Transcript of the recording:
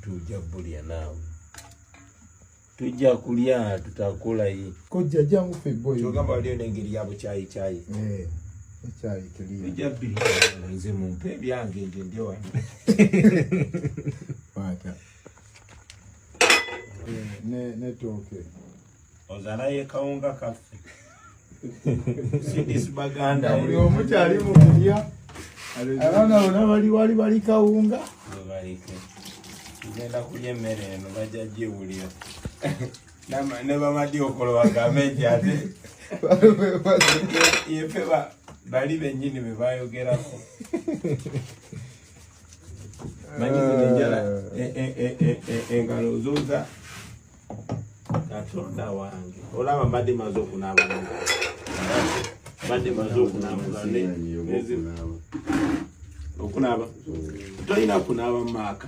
tujja bulya naawe tujja kulya tutakolayi kojja jangu feboyogamba waliyo nengeri yabo kyayi kyayi eh, ekyayi tuliija birinze mumpe ebyange nje ndi wano eh, netooke ozala ye kawunga kaffe sidis baganda buli omu kyali mu kulya abaana bona bali wali bali kawunga webalike tugenda kulya emmere eno bajja giwulira ne bamadi okolo bagambe nti ate yefe bali bennyini be bayogerako manyi zino enjala engalo zoza katonda wange olaba mbadde maze okunaaba mbadde maze okunaaba okunaaba tolina kunaaba mu maaka